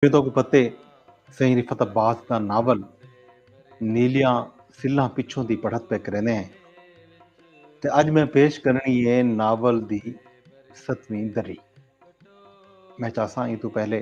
جو تہاکوں پتے سئیں رفعت عباس دا ناول نیلیاں سلھاں پچھوں دی پڑھت پئے کریندے ہیں تے اج میں پیش کرنی ہے ناول دی ستویں دری میں چاہساں ایں تو پہلے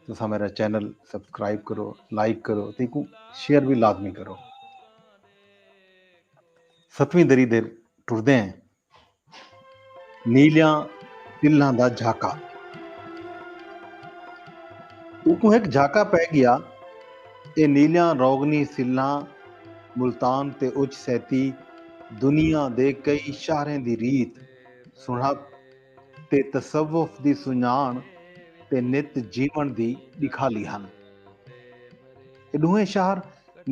تساں میرا چینل سبسکرائب کرو لائک کرو تے کو شیئر بھی لازمی کرو ستویں دری دے ٹردے ہیں نیلیاں تلاں دا جھاکا۔ اکوں ہک جھاکا پئے گیا اے نیلیاں روغنی سلھاں ملتان تے اچ سیتی دنیا دے کئی شہریں دی ریت، سنڑھپ تے تصوف دی سنڄاݨ تے نت جیوݨ دی ݙکھالی ہن۔ اے ݙوہیں شہر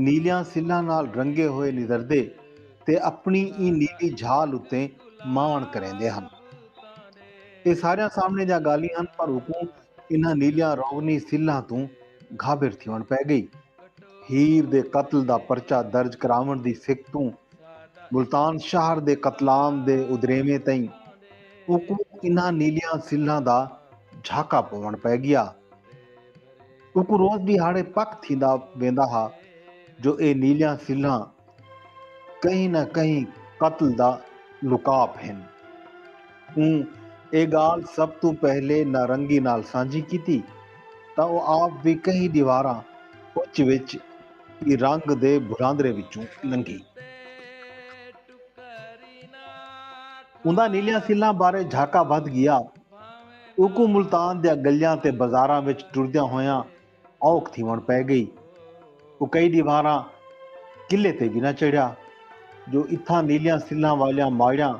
نیلیاں سلھاں نال رنگے ہوئے نظردے تے اپݨی ایں نیلی جھال اتے ماݨ کریندے ہن۔ اے ساریاں سامݨے دیاں ڳالھیں ہن پر اوکوں انہاں نیلیاں روغنی سلھاں توں گھابر تھیوݨ پئے ڳئی۔ ہیر دے قتل دا پرچہ درج کراوݨ دی سک توں ملتان شہر دے قتلام دے ادھریویں تئیں اوکوں انہاں نیلیاں سلھاں دا جھاکا پووݨ پئے ڳیا۔ اونکوں روز ݙیہاڑے پک تھیندا ویندا ہا جو اے نیلیاں سلھاں کہیں نہ کہیں قتل دا لکاپ ہن۔ اوں اے ڳالھ سب توں پہلے نارنگی نال سانجھی کیتی تاں او آپ وی کہیں ݙیواراں اچ وچ ای رنگ دے بھراندرے وچوں لنگھی۔ اوندا نیلیاں سلھاں بارے جھاکا ودھ گیا۔ اوکوں ملتان دیاں گلیاں تے بزاراں وچ ٹردیاں ہویاں اوکھ تھیوݨ پئے گئی۔ او کئی ݙیوہاراں قلعے تے وی نہ چڑھیا جو اتھاں نیلیاں سلھاں والیاں ماڑیاں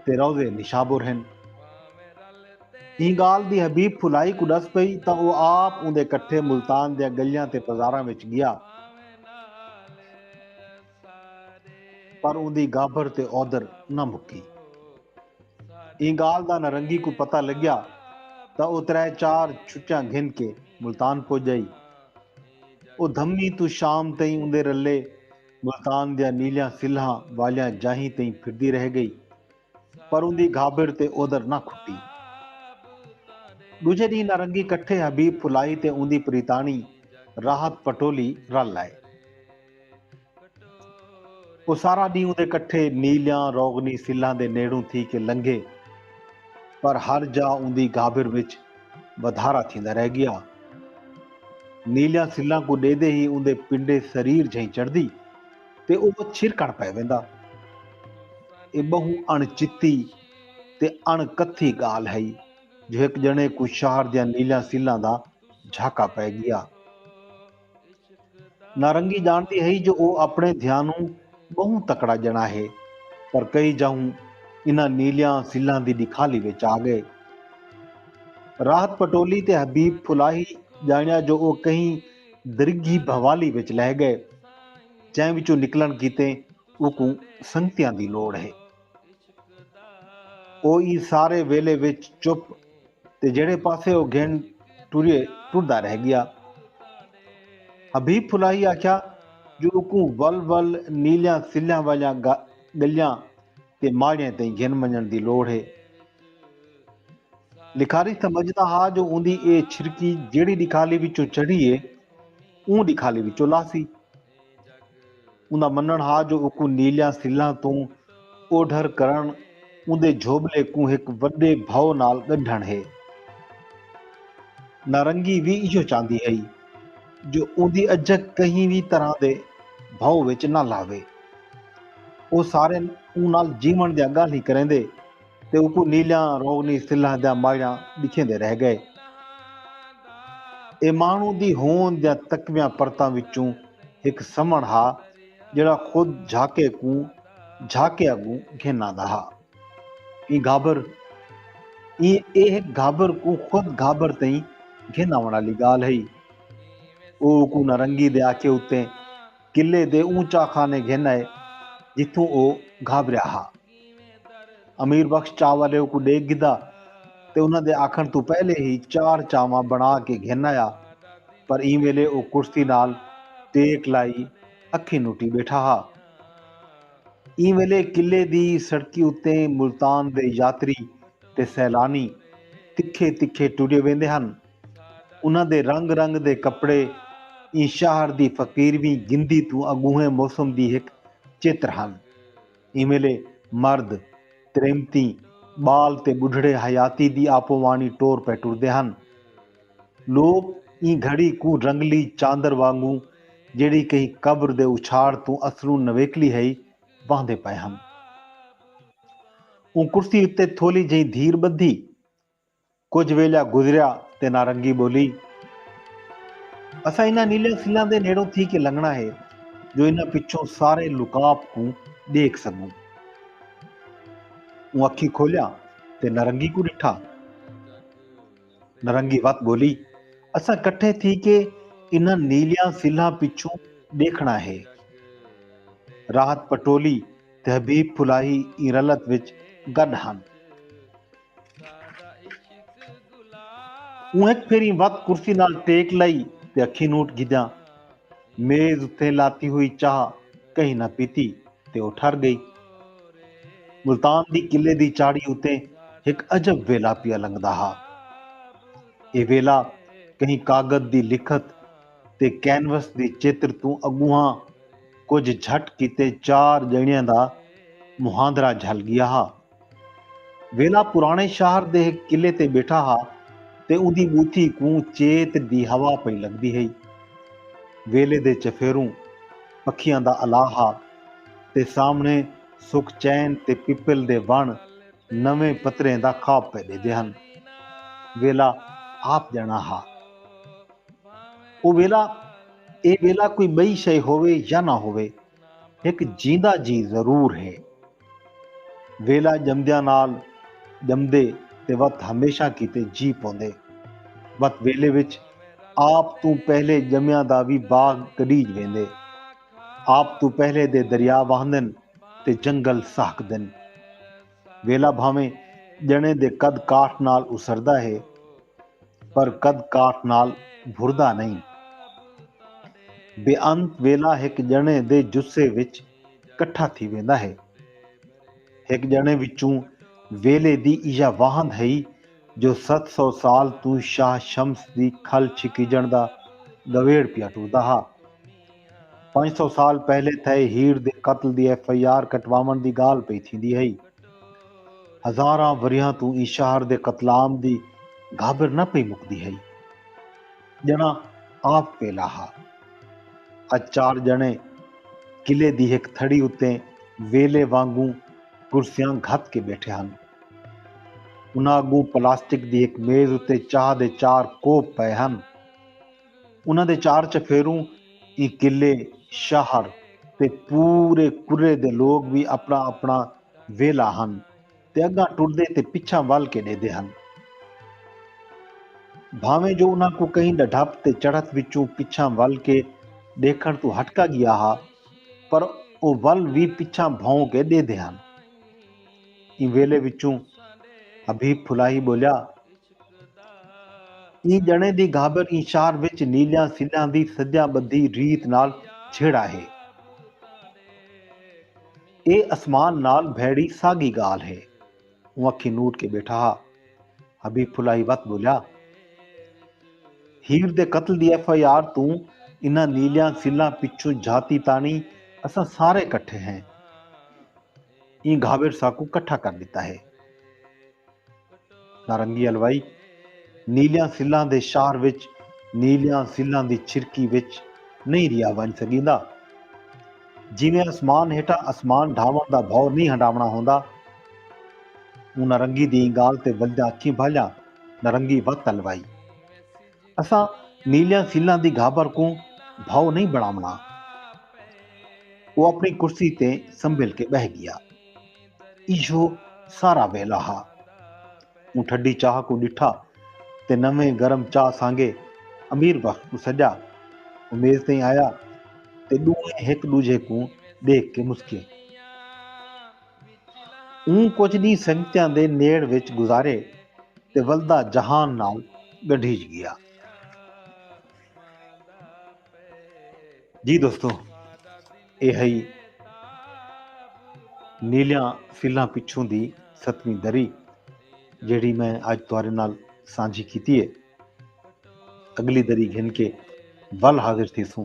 تے روضے نشابر ہن۔ ایں ڳالھ دی حبیب پھلائی کوں ݙس پئی تاں او آپ اوندے کٹھے ملتان دیاں گلیاں تے بزاراں وچ ڳیا۔ پر اوندی گابھر تے اودھر نہ مکی۔ ایں گالھ دا نرنگی کوں پتہ لگیا تاں او ترے چار چھٹیاں گھن کے ملتان پج ئی۔ او دھمی توں شام تئیں اوندے رلے ملتان دیاں نیلیاں سلھاں والیاں جاہیں تئیں پھردی رہ گئی پر اوندی گھابر تے اودر نہ کھٹی۔ ڈوجھے ڈینہہ نارنگی کٹھے حبیب پھلائی تے اوندی پریتاݨی راحت پٹولی رل آئے۔ او سارا ڈینہہ اوندے کٹھے نیلیاں روغنی سلھاں دے نیڑوں تھی کے لنگھے پر ہر جا اوندی گھابر وچ ودھارا تھیندا رہ گیا۔ نیلیاں سلھاں کوں ڈیدھے ہی اوندے پنڈے سریر جھئیں چڑھدی۔ تے او چھرکݨ پئے ویندا۔ اے ٻہوں اݨ چتی تے اݨ کتھی ڳالھ ہئی جو ہک ڄݨے کوں شہر دیاں نیلیاں سلھاں دا جھاکا پئے ڳیا۔ نارنگی ڄاݨدی ہئی جو او اپݨے دھیانوں ٻہوں تکڑا ڄݨا ہے پر کئی جاہوں انہاں نیلیاں سلھاں دی ݙکھالی وچ آ ڳئے۔ راحت پٹولی تے حبیب پھلاہی ڄاݨیا جو او کہیں درگھی بھوالی وچ لہہ ڳئے جئیں وچوں نکلݨ کیتے اوکوں سنگتیاں دی لوڑ ہے۔ او ایں سارے ویلے وچ چپ تے جہڑے پاسے او گھن ٹریے ٹردا رہ ڳیا۔ حبیب پھلاہی آکھیا جو اوکوں ول ول نیلیاں سلھیاں والیاں ڳلیاں تے ماڑیاں تئیں گھن ونڄݨ دی لوڑ ہے۔ ݙکھالی سمجھدا ہا جو اوندی اے چھرکی جیڑھی ݙکھالی وچوں چڑھی اے اوں ݙکھالی وچوں لاہسی۔ اوندا منݨ ہا جو اوکوں نیلیاں سلھاں توں اوڈھر کرݨ اوندے جھوٻلے کوں ہک وݙے بھئو نال ڳنڈھݨ ہے۔ نارنگی وی ایہو چاہندی ہئی جو اوندی اجھک کہیں وی طرح دے بھئو وچ نہ لاوے۔ او ساریں اوں نال جیوݨ دیاں ڳالھیں کریندے۔ تے اوکوں نیلیاں رونی سلھاں دیاں ماڑیاں ڈکھیندے رہ گئے۔ اے مانڑوں دی ہوند دیاں تکویاں پرتاں وچوں ہک سمنڑ ہا جیڑھا خود جھاکے کوں جھاکے اگوں گھن آندا ہا۔ ایں گھابر ایں اے ہک گھابر کوں خود گھابر تئیں گھن آونڑ آلی گالھ ہئی۔ او اوکوں نہ رنگی دے آکھے اتے۔ قلعے دے اوں چاخانے گھن آئے جتھوں او گھابریا ہا۔ امیر بخش چاہ والے اوکوں ڈیکھ گھدا تے انہاں دے آکھݨ توں پہلے ہی چار چاہواں بݨا کے گھن آیا پر ایں ویلے او کرسی نال ٹیک لائی اکھیں نٹی بیٹھا ہا۔ ایں ویلے قلعے دی سڑکی اتے ملتان دے یاتری تے سیلانی تکھے تکھے ٹرے ویندے ہن۔ انہاں دے رنگ رنگ دے کپڑے ایں شاہر دی فقیرویں گندی توں اگونہیں موسم دی ہک چتر ہن۔ ایں ویلے مرد، تریمتیں، ٻال تے ٻڈھڑے حیاتی دی آپو وانی ٹور پئے ٹردے ہن۔ لوک ایں گھڑی کوں رنگلی چاندر وانگوں جیڑھی کہیں قبر دے اچھاڑ توں اصلوں نویکلی ہئی واہندے پئے ہن۔ اوں کرسی اتے تھولی جہیں دھیر ٻدھی۔ کجھ ویلھا گزریا تے نارنگی ٻولی، اساں انہاں نیلیاں سلاں دے نیڑوں تھی کے لنگھݨا ہے جو انہاں پچھوں سارے لکاپ کوں ݙیکھ سڳوں۔ اوں اکھیں کھولیاں تے نارنگی کوں ݙٹھا۔ نارنگی وت ٻولی، اساں کٹھے تھی کے انہاں نیلیاں سلھاں پچھوں ݙیکھݨا ہے۔ راحت پٹولی تے حبیب پھلاہی ایں رلت وچ گݙ ہن۔ اوں ہک پھیریں وت کرسی نال ٹیک لائی تے اکھیں نوٹ گھدیاں۔ میز اتھیں لاتی ہوئی چاہ کہیں نہ پیتی تے او ٹھر ڳئی۔ ملتان دی قلعے دی چاڑھی اتیں ہک عجب ویلا پیا لنگھدا ہا۔ اے ویلا کہیں کاغد دی لکھت تے کینوس دی چتر توں اڳونہاں کجھ جھٹ کیتے چار ڄݨیاں دا مہاندرا جھل ڳیا ہا۔ ویلا پراݨے شہر دے ہک قلعے تے ٻیٹھا ہا تے اوندی ٻوتھی کوں چیت دی ہوا پئی لڳدی ہئی۔ ویلے دے چفیروں پکھیاں دا الاہ ہا تے سامݨے سک چین تے پپل دے وݨ نویں پتریں دا خواب پئے ݙیندے ہن۔ ویلا آپ ڄݨا ہا۔ او ویلا اے ویلا کوئی ٻئی شئے ہووے یا نہ ہووے۔ ہک جیندا جی ضرور ہے۔ ویلا ڄمدیاں نال ڄمدے تے وت ہمیشاں کیتے جی پوندے۔ وت ویلے وچ آپ توں پہلے ڄمیاں دا وی باغ گݙیج ویندے۔ آپ توں پہلے دے دریا واہندن تے جنگل سہکدن۔ ویلا بھانویں ڄݨے دے قد کاٹھ نال اسردا ہے پر قد کاٹھ نال بھردا نئیں۔ بے انت ویلا ہک ڄݨے دے جثے وچ کٹھا تھی ویندا ہے۔ ہک ڄݨے وچوں ویلے دی ایہا واہند ہئی جو ست سو سال توں شاہ شمس دی کھل چھکیجݨ دا ڳویڑ پیا ٹردا ہا۔ پنج سو سال پہلے تھئے ہیڑ دے قتل دی ایف آئی آر کٹواوݨ دی ڳالھ پئی تھیندی ہئی۔ ہزاراں وریہاں توں ایں شہر دے قتلام دی گھابر نہ پئی مکدی ہئی۔ ڄݨاں آپ ویلھا ہا۔ اڄ چار ڄݨے قلعے دی ہک تھڑی اتے ویلھے وانگوں کرسیاں گھت کے بیٹھے ہن۔ انہاں اگوں پلاسٹک دی ہک میز اتے چاہ دے چار کوپ پئے ہن۔ انہاں دے چار چفیروں ایں قلعے، شہر تے پورے کرے دے لوک وی اپݨا اپݨا ویلھا ہن تے اڳاں ٹردے تے پچھاں ول کے ݙیہدے ہن۔ بھانویں جو انہاں کوں کہیں ݙڈھپ تے چڑھت وچوں پچھاں ول کے ݙیکھݨ توں ہٹکا ڳیا ہا، پر او ول وی پچھاں بھوں کے ڈیہدے ہن۔ ایں ویلے وچوں حبیب پھلاہی بولیا، ایں جݨیں دی گھابر ایں شہر وچ نیلیاں سلیاں دی سجاں ٻدھی ریت نال چھیڑا ہے۔ اے اسمان نال بھیڑی ساڳی ڳالھ ہے۔ اوں اکھیں نوٹ کے ٻیٹھا ہا۔ حبیب پھلائی وت ٻولیا۔ ہیر دے قتل دی ایف آئی آر توں انہاں نیلیاں سلاں پچھوں جھاتی تاݨی اساں سارے کٹھے ہیں۔ ایں گھاویڑ ساکوں کٹھا کر ݙتا ہے۔ نارنگی الوائی، نیلیاں سلاں دے شہر وچ نیلیاں سلاں دی چھرکی وچ نئیں رہیا ونڄ سڳیندا۔ جیویں اسمان ہیٹھاں اسمان ڈھاوݨ دا بھو نئیں ہنڈاوݨا ہوندا۔ اوں نارنگی دی ایں گالھ تے ولدا اکھیں بھالیاں نارنگی وت الوائی۔ اساں نیلیاں سیلاں دی گھابر کوں بھاؤ نئیں بنڑاونڑا۔ او اپنڑی کرسی تے سنبھل کے بہہ گیا۔ ایہو سارا ویلا ہا۔ اوں ٹھڈی چاہ کوں ڈٹھا تے نویں گرم چاہ سانگے امیر بخش کوں سڈیا۔ او میز تئیں آیا تے ڈوہیں ہک ڈوجھے کوں ڈیکھ کے مسکیے۔ اوں کجھ ݙینہہ سنگتیاں دے نیڑ وچ گزارے تے ولدا جہان نال ڳنڈھیج ڳیا۔ جی دوستو اے ہئی نیلیاں سلھاں پچھوں دی ستویں دری جیڑھی میں اج تہاݙے نال سانجھی کیتی اے۔ اڳلی دری گھن کے ول حاضر تھیسوں۔